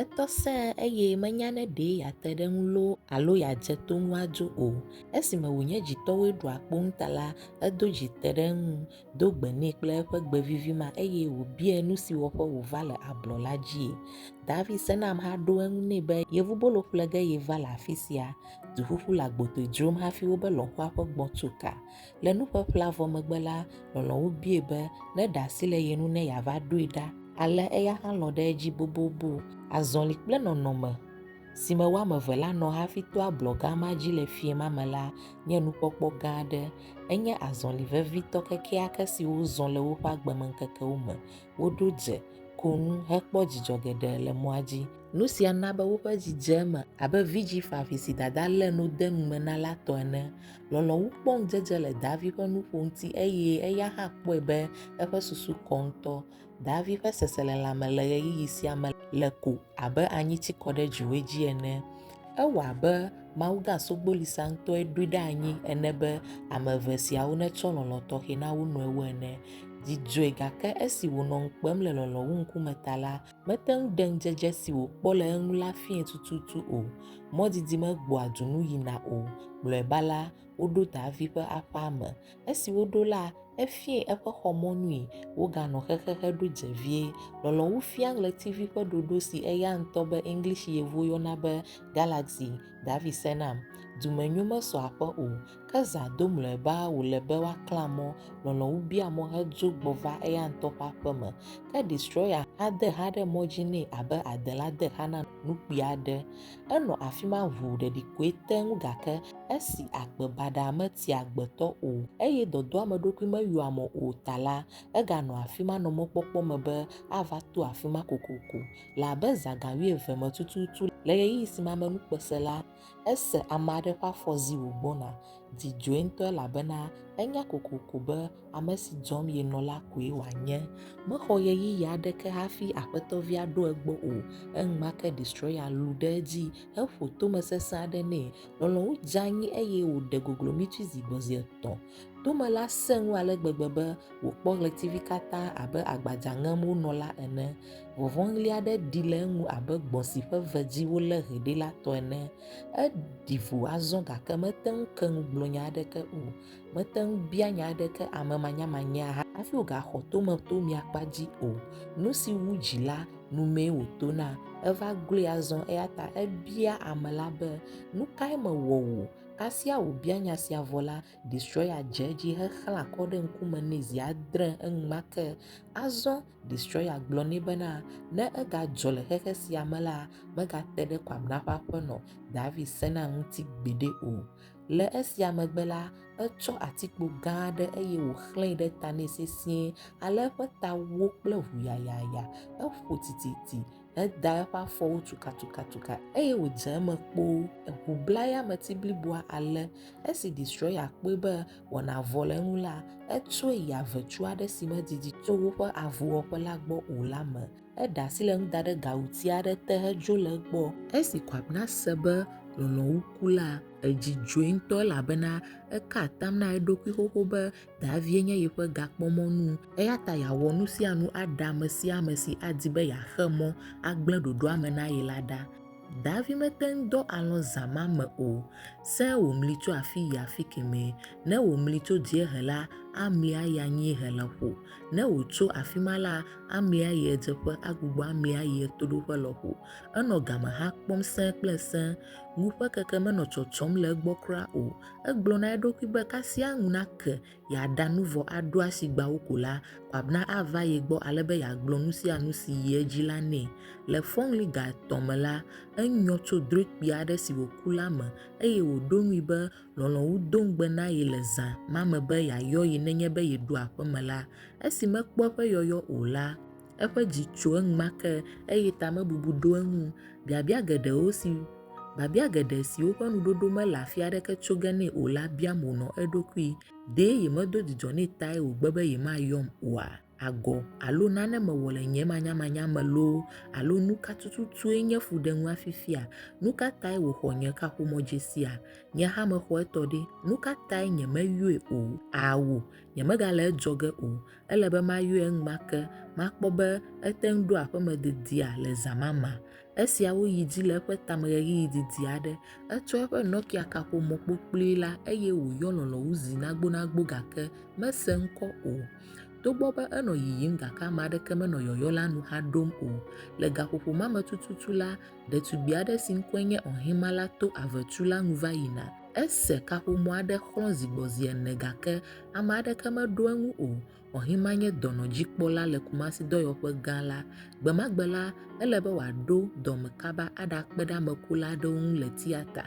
Etɔ sẽe eye menya ne ɖe yeate ɖe eŋu loo alo yeadze to ŋu adzo o. Esime wònye dzitɔwoe ɖoa kpo eŋu ta la, edo dzi te ɖe eŋu, do gbe nɛ kple eƒe gbe vivi ma eye wòbiae nu si wɔƒe wòva le ablɔ la dzie. David sena ameha ɖo eŋu nɛ be yevubolo ƒle ge yeva le afi sia. Duƒuƒu le agbotoe dzrom hafi wobe lɔ̃xoa ƒe gbɔ̃ tso ka. Le nuƒeƒlea vɔ megbe la, lɔlɔ̃wo biae be neɖe asi le ye ŋu ne yeava ɖoe ɖa. Ale eya hã lɔ̃ ɖe edzi bobobo. Azɔli kple nɔnɔme, si me wo ame eve la nɔ hafi to ablɔ gã ma dzi le fiẽ ma me la, nye nukpɔkpɔ gã aɖe. Enye azɔli vevitɔ kekeake si wozɔ le woƒe agbemeŋkekewo me. Woɖo dze, ko nu, hekpɔ dzidzɔ geɖe le mɔa dzi. Nu sia na be woƒe dzi dze eme abe vidzĩ ƒãvi si dada lé nu de nu me na la tɔ ene. Lɔlɔ̃ wu kpɔ ŋudzedze le Daavi ƒe nuƒo ŋuti eye eya hã kpɔe be eƒe susu kɔ ŋutɔ. Daavi ƒe seselelãme le ɣeyiɣi sia me le ko abe anyi tsi kɔ ɖe dziwɔe dzi ene. Ewɔ abe mawugã sogbolisa ŋutɔe ɖoe ɖe anyi ene be ame eve siawo netsɔ lɔlɔ̃ tɔxɛ na wo nɔewo ene. Dzi dzɔe gake esi wònɔ ŋu kpem le lɔlɔ̃ wu ŋkume ta la, Mete ŋu ɖe ŋudzedze si wòkpɔ le eŋu la fiae tututu o. Mɔdidi megbɔa du nu yina o. Mlɔeba la, woɖo Davi ƒe aƒea me. Esi woɖo la, efiae eƒe xɔ mɔnui. Woganɔ xexe heɖo dze vie. Lɔlɔ̃wu fia ɣletivi ƒe ɖoɖo si eya ŋutɔ be English Yevuwo yɔna be Galaxy. Davi se nam. Dumenyo mesɔ aƒe o. Ke zã do mlɔeba wòle be woaklã mɔ, lɔlɔ̃ wu bia mɔ hedzo gbɔ va eya ŋutɔ ƒe aƒe me. Ke Destroyer hã de xa ɖe mɔ dzi nɛ abe adela de xa na nukpui aɖe. Enɔ afi ma ʋuu ɖeɖikoe teŋ gake esi agbe baɖa metia agbetɔ o eye dɔdɔameɖokui meyɔa mo o ta la, eganɔ afi ma nɔ mɔkpɔkpɔ me be ava to afi ma kokoko. Le abe zã ga wuieve me tututu le ɣeyiɣi si me amenukpe sẽ la, Ese ame aɖe ƒe afɔ zi wògbɔna. Dzi dzɔe ŋutɔ elabena enya kokoko be ame si dzɔm yenɔ la koe wòanye. Mexɔ ɣeyiɣi aɖeke hafi aƒetɔvia ɖo egbɔ o. Enumake Destroyer lũ ɖe edzi heƒo tome sesẽ aɖe nɛ. Lɔlɔ̃nu dze anyi eye wòɖe goglomitui zi gbɔ zi etɔ̃. Tome la sẽ ŋu ale gbegbe be wòkpɔ ɣletivi katã abe agbadza ŋem wonɔ la ene. Vɔvɔ̃ɣli aɖe ɖi le eŋu abe gbɔ̃ si ƒe ve dzi wolé hɛ ɖi la tɔ ene. Eɖi vo azɔ gake mete ŋu ke nu gblɔ nya aɖeke o. Mete ŋu bia nya aɖeke ame manyamanyea hafi wògaxɔ tome to mía kpa dzi o. Nu si wu dzi la, nu mee wòtona. Eva gloe azɔ eya ta ebia ame la be, Nu kae mewɔ wò? Kasia wòbia nya sia vɔ la, Destroyer dze edzi hexlã kɔ ɖe ŋkume nɛ zi adre enumake. Azɔ Destroyer gblɔ nɛ bena, ne egadzɔ le xexe sia me la, megate ɖe Kwamina ƒe aƒenɔ, David Sena ŋuti gbeɖe o. Le esia megbe la, etsɔ atikpo gã aɖe eye wòxlẽe ɖe ta nɛ sesĩe ale eƒe ta wó kple ʋu yayaya. Eƒo tititi Eda eƒe afɔwo tukatukatuka eye wòdze eme kpoo. Eŋu bla eyameti bliboa ale esi Destroya kpɔe be wɔna vɔ le eŋu la, etsɔe yi avetu aɖe si medidi tso woƒe avuwɔƒe la gbɔ o la me. Eɖe asi le eŋu da ɖe gawuti aɖe te hedzo le egbɔ. Esi Kwabena se be Lɔlɔ̃wu ku la, edzi dzɔe ŋutɔ elabena eka atam na eɖokui xoxo be Davie nye yeƒe gakpɔmɔnu, eya ta yeawɔ nu sia nu aɖe ame sia ame si adi be yeaxe mɔ agblẽ ɖoɖoa me na ye la ɖa. Davi mete ŋu dɔ alɔ̃ zã ma me o. Sẽ wòmli tso afii yi afi kemɛ. Ne wòmli tso dziehe la, amli ayi anyiehe lɔƒo. Ne wòtso afi ma la, amli ayi ɣedzeƒe agbugbɔ amli ayi ɣetoɖoƒe lɔƒo. Enɔ gamehã kpɔm sẽ kple sẽ. Ŋu ƒe keke menɔ tsɔtsɔm le egbɔ kura o. Egblɔ na eɖokui be kasia ŋu nake yeaɖa nu vɔ aɖo asi gbeawo ko la, Kwabena ava ye gbɔ ale be yeagblɔ nu sia nu si yi edzi la nɛ. Le fɔŋli ga etɔ̃ me la, enyɔ tso drɔ̃e kpui aɖe si wòku la me eye wòɖo ŋui be lɔlɔ̃nu do ŋugbe na ye le zã ma me be yeayɔ ye nenye be yeɖo aƒeme la. Esi mekpɔ eƒe yɔyɔ o la, Eƒe dzi tso eŋma ke, eye tamebubu ɖo eŋu. Biabia geɖewo si Biabia geɖe siwo ƒe nuɖoɖo mele afi aɖeke tso ge nɛ o la biam wònɔ eɖokui, Ɖe yemedo dzidzɔ nɛ tae wògbe be yemayɔm oa? Agɔ alo nane mewɔ le nye manyamanya me loo alo nu ka tututue nye fuɖenua fifia? Nu ka tae wòxɔ nye kaƒomɔdzesia? Nye hã mexɔ etɔ ɖe. Nu ka tae nyemeyɔe o? Ao, nyemegale edzɔ ge o. Ele be mayɔe enumake, makpɔ be ete ŋu ɖo aƒeme dedia le zã ma mea? Esiawo yi edzi le eƒe tame ɣeyiɣi didi aɖe. Etsɔ eƒe Nokia-kaƒomɔ kpokploe la eye wòyɔ lɔlɔ̃ŋu zi nagbonagbo gake mese ŋkɔ o. Togbɔ be enɔ yiyim gake ame aɖeke menɔ yɔyɔ la nu haɖom o. Le gaƒoƒo ma me tututu la, ɖetugbi aɖe si ŋkɔe nye Ohima la to avetu la nu va yina. Ese kaƒomɔ aɖe xlɔ̃ zi gbɔ zi ene gake ame aɖeke meɖo eŋu o. Ɔhima nye dɔnɔdzikpɔla le Kumasi dɔyɔƒe gã la. Gbe ma gbe la, ele be wòaɖo dɔme kaba aɖakpe ɖe ame kula aɖewo ŋu le tiata.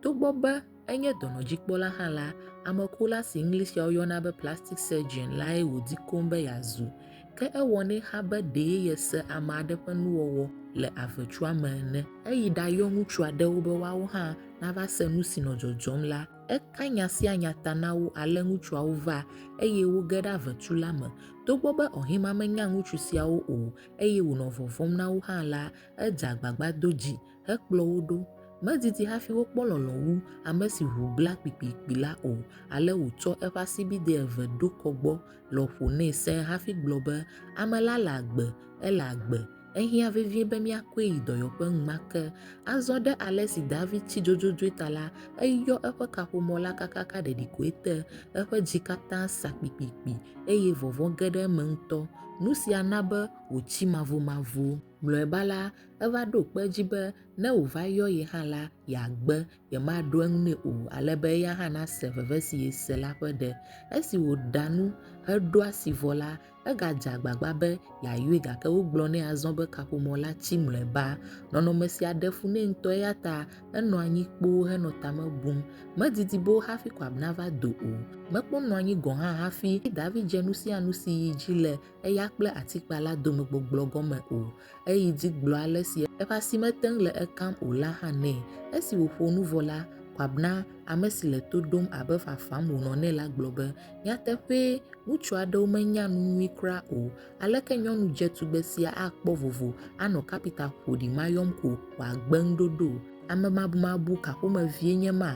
Togbɔ be enye dɔnɔdzikpɔla hã la, ame kula si Englishea woyɔna be plastic surgeon lae wòdi koŋ be yeazu. Ke ewɔnɛ xa be ɖee yese ame aɖe ƒe nuwɔwɔ le avetsua me ene. Eyi ɖayɔ ŋutsu aɖewo be woawo hã nava se nu si nɔ dzɔdzɔm la. Eka nya sia nya ta na wo ale ŋutsuawo va, eye woge ɖe avetu la me. Togbɔ be Ɔhima menya ŋutsu siawo o eye wònɔ vɔvɔ̃m na wo hã la, edze agbagba do dzi hekplɔ wo ɖo. Medidi hafi wokpɔ lɔlɔ̃ wu ame si ŋu gbla kpikpikpi la o, ale wòtsɔ eƒe asibidɛ eve ɖo kɔ gbɔ lɔƒo nɛ sẽe hafi gblɔ be, Ame la le agbe! Ele agbe! Ehiã vevie be míakɔe yi dɔyɔƒe ŋma ke. Azɔ ɖe ale si David tsi dzodzodzoe ta la, eyɔ eƒe kaƒomɔ la kakaka ɖeɖikoe te. Eƒe dzi katã sa kpikpikpi, eye vɔvɔ̃ ge ɖe eme ŋutɔ. Nu sia na be wòtsi mavomavo. Mlɔeba la, Eva ɖo kpe edzi be ne wòva yɔ ye hã la, yeagbe, yemaɖo eŋu nɛ o, ale be eya hã nase veve si yese la ƒe ɖe. Esi wòɖa nu heɖo asi vɔ la, egadze agbagba be yeayɔe gake wogblɔ nɛ azɔ be kaƒomɔ la tsi mlɔeba. Nɔnɔme sia ɖe fu nɛ ŋutɔ eya ta enɔ anyi kpoo henɔ tame bum. Medidi be wo hafi Koab nava do o. Mekpɔ nɔ anyi gɔ̃ hã hafi David dze nu sia nu si yi dzi le eya kple atikpa la dome gbɔgblɔ gɔme o. Eyi dzi gblɔ ale si eƒe asi mete ŋu le ekam o la hã nɛ. Esi wòƒo nu vɔ la, Kwabena, ame si le to ɖom abe fafam wònɔ nɛ la gblɔ be, Nyateƒee, ŋutsu aɖewo menya nu nyui kura o. Aleke nyɔnu dze tugbe sia akpɔ vovo anɔ kapita ƒoɖi ma yɔm ko wòagbe ŋuɖoɖo? Amemabumabu ka ƒomevie nye ma?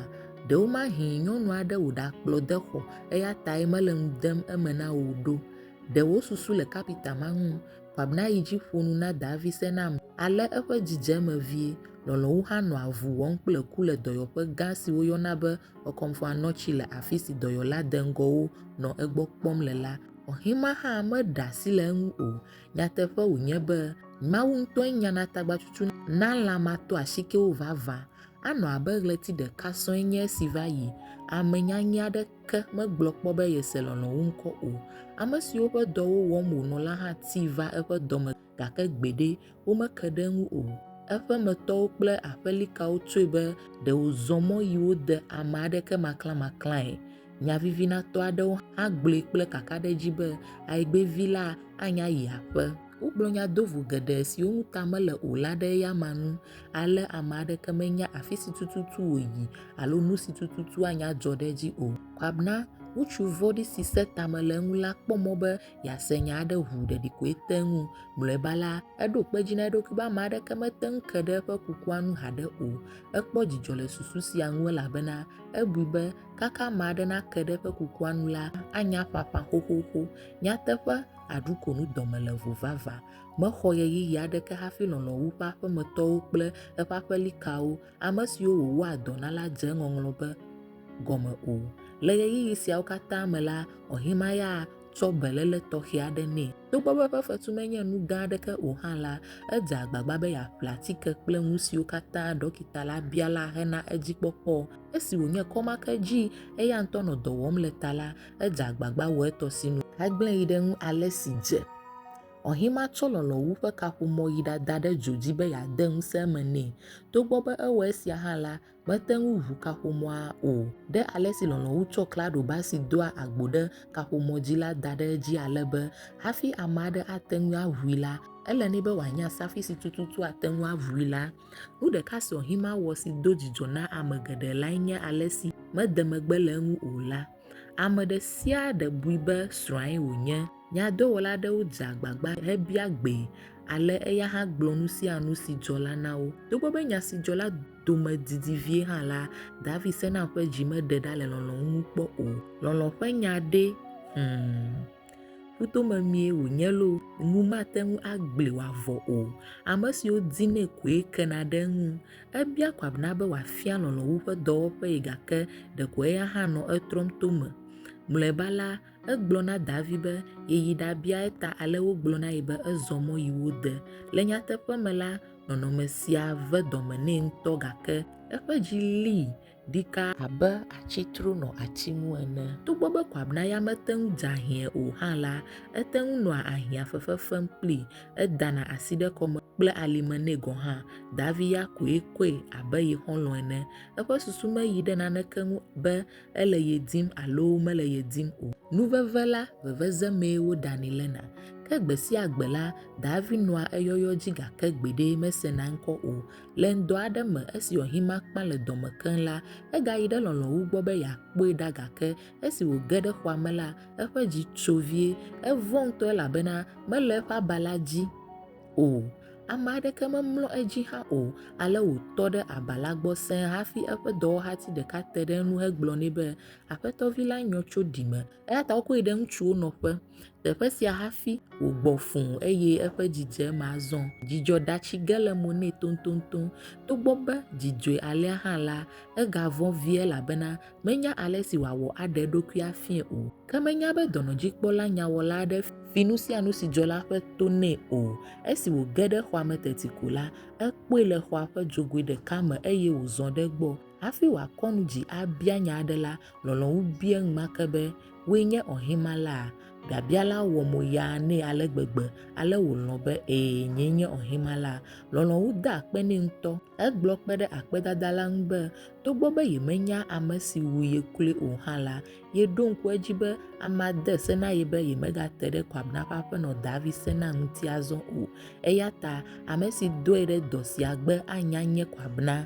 Ɖewomahee nyɔnu aɖe wòɖakplɔ de xɔ eya tae mele nu dem eme na wò ɖo. Ɖe wò susu le kapita ma ŋu? Abner yi dzi ƒo nu na Davi se na ame, ale eƒe dzi dze eme vie. Lɔlɔ̃wu hã nɔ avu wɔm kple ku le dɔyɔƒe gã si woyɔna be Okomfua Notchi le afi si dɔyɔla deŋgɔwo nɔ egbɔ kpɔm le la. Oxima hã meɖe asi le eŋu o. Nyateƒe wònye be, Mawu ŋutɔe nyana tagbatsutsu na lã matɔasikewo vavã. Anɔ abe ɣleti ɖeka sɔe nye esi va yi, ame nyanyɛ aɖe ta. Ke megblɔ kpɔ be yese lɔlɔ̃ wu ŋkɔ o. Ame siwo ƒe dɔwo wɔm wònɔ la hã ti va eƒe dɔ me, gake gbeɖe, womeke ɖe eŋu o. Eƒe me tɔwo kple aƒelikawo tsɔe be ɖe wòzɔ mɔ yi wo de ame aɖeke maklãmaklãe. Nyavivinatɔ aɖewo hã gblɔe kple kakaɖedzi be, Aigbe vi la anya yi aƒe. Wogblɔ nya do vo geɖe siwo ŋu ta mele o la ɖe eyama ŋu ale ame aɖeke menya afi si tututu wòyi alo nu si tututu anya dzɔ ɖe edzi o. Kɔ na ŋutsu vɔ̃ɖi si sẽ ta me le eŋu la kpɔ mɔ be yease nya aɖe ʋu ɖeɖikoe te ŋu. Mlɔeba la, eɖo kpe edzi na eɖokui be ame aɖeke mete ŋu ke ɖe eƒe kukua ŋu haɖe o. Ekpɔ dzidzɔ le susu sia ŋu elabena ebui be kaka ame aɖe nake ɖe eƒe kukua ŋu la, anya ƒaƒã xoxoxo. Nyateƒe, aɖukonu dɔme le vo vavã. Mexɔ ɣeyiɣi aɖeke hafi lɔlɔ̃ wu eƒe aƒemetɔwo kple eƒe aƒelikawo, ame siwo wòwɔa dɔ na la dze eŋɔŋlɔ be gɔme o. Le ɣeyiɣi siawo katã me la, Ɔhimaya tsɔ beléle tɔxɛ aɖe nɛ. Togbɔ be eƒe fetu menye nu gã aɖeke o hã la, edze agbagba be yeaƒle atike kple nusiwo katã ɖɔkita la bia la hena edzikpɔkpɔ. Esi wònye kɔmakedzii eya ŋutɔ nɔ dɔ wɔm le ta la, edze agbagba wɔ etɔ si nu. Egblẽ yi ɖe ŋu ale si dze. Ɔhima tsɔ lɔlɔ̃wu ƒe kaƒomɔ yi ɖada ɖe dzo dzi be yeade ŋusẽ eme nɛ. Togbɔ be ewɔ esia hã la, mete ŋu ʋu kaƒomɔa o. Ɖe ale si lɔlɔ̃wu tsɔ klaɖoba si doa agbo ɖe kaƒomɔ dzi la da ɖe edzi ale be hafi ame aɖe ate ŋu aʋui la, ele nɛ be wòanya safi si tututu ate ŋu aʋui la. Nu ɖeka si Ɔhima wɔ si do dzidzɔ na ame geɖe lae nye ale si mede megbe le eŋu o la. Ame ɖe sia ɖe bui be srɔ̃ae wònye. Nyadɔwɔla aɖewo dze agbagba hebia gbee, ale eya hã gblɔ nu sia nu si dzɔ la na wo. Togbɔ be nya si dzɔ la dome didi vie hã la, David sena ƒe dzi meɖe ɖa le lɔlɔ̃ ŋu kpɔ o. Lɔlɔ̃ ƒe nya ɖe? Hum! Kuto memie wònye loo, ŋu mate ŋu agbli wòavɔ o. Ame siwo dinɛ koe kena ɖe eŋu. Ebia Kwabena be wòafia lɔlɔ̃ wu eƒe dɔwɔƒee gake ɖeko eya hã nɔ etrɔm to eme. Mlɔeba la, egblɔ na Davi be yeyi ɖabia eta ale wògblɔ na ye be ezɔ mɔ yi wo de. Le nyateƒe me la, nɔnɔme sia ve dɔme nɛ ŋutɔ gake eƒe dzi lii. ɖika abe atsi tro nɔ ati ŋu ene. Togbɔ be kwabnaya mete ŋu dza hiãe o hã la, ete ŋu nɔa ahiã fefe fem kplii, edana asi ɖe kɔme kple alime nɛ gɔ̃ hã. Davi ya koe kɔe abe ye xɔlɔ̃ ene. Eƒe susu meyi ɖe naneke ŋu be ele ye dim alo mele ye dim o. Nu veve la, veveze mee woɖanɛ lena. Ke gbe sia gbe la, Davi nɔa eyɔyɔ dzi gake gbeɖe mesena eŋkɔ o. Le ŋdɔ aɖe me esi Ohimakpa le dɔ me keŋ la, egayi ɖe lɔlɔ̃wu gbɔ be yeakpɔe ɖa gake esi wòge ɖe xɔa me la, eƒe dzi tso vie. Evɔ̃ ŋutɔ elabena mele eƒe aba la dzi o. Ame aɖeke memlɔ edzi hã o, ale wòtɔ ɖe aba la gbɔ sẽe hafi eƒe dɔwɔhati ɖeka te ɖe eŋu hegblɔ nɛ be, Aƒetɔ vi la nyɔ tso ɖime. Eya ta wokɔe ɖe ŋutsuwo nɔƒe. Teƒe sia hafi wògbɔ fũ eye eƒe dzidzeme azɔ. Dzidzɔ ɖa tsi ge le mo nɛ toŋtoŋtoŋ. Togbɔ be dzi dzɔe alea hã la, egavɔ̃ vie elabena menya ale si wòawɔ aɖe eɖokui afiae o. Ke menya be dɔnɔdzikpɔla nyawɔla aɖe fi nu sia nu si dzɔ la ƒe to nɛ o. Esi wòge ɖe xɔa me teti ko la, ekpɔe le xɔa ƒe dzogoe ɖeka me eye wòzɔ ɖe egbɔ. Hafi wòakɔ nu dzi abia nya aɖe la, lɔlɔ̃ŋu bia enumake be, Wòe nye Ohimalaa? Biabia la wɔ mo yaa nɛ ale gbegbe ale wòlɔ̃ be, Ɛ̃, nyee nye Ohimalaa. Lɔlɔ̃ŋu de akpe nɛ ŋutɔ. Egblɔ kpe ɖe akpedada la ŋu be, togbɔ be yemenya ame si wu ye kloe o hã la, yeɖo ŋku edzi be amea de se na ye be yemegate ɖe Kwabena ƒe aƒenɔ Davi Sena ŋuti azɔ o. Eya ta, ame si dɔe ɖe dɔ sia gbe anya nye Kwabena.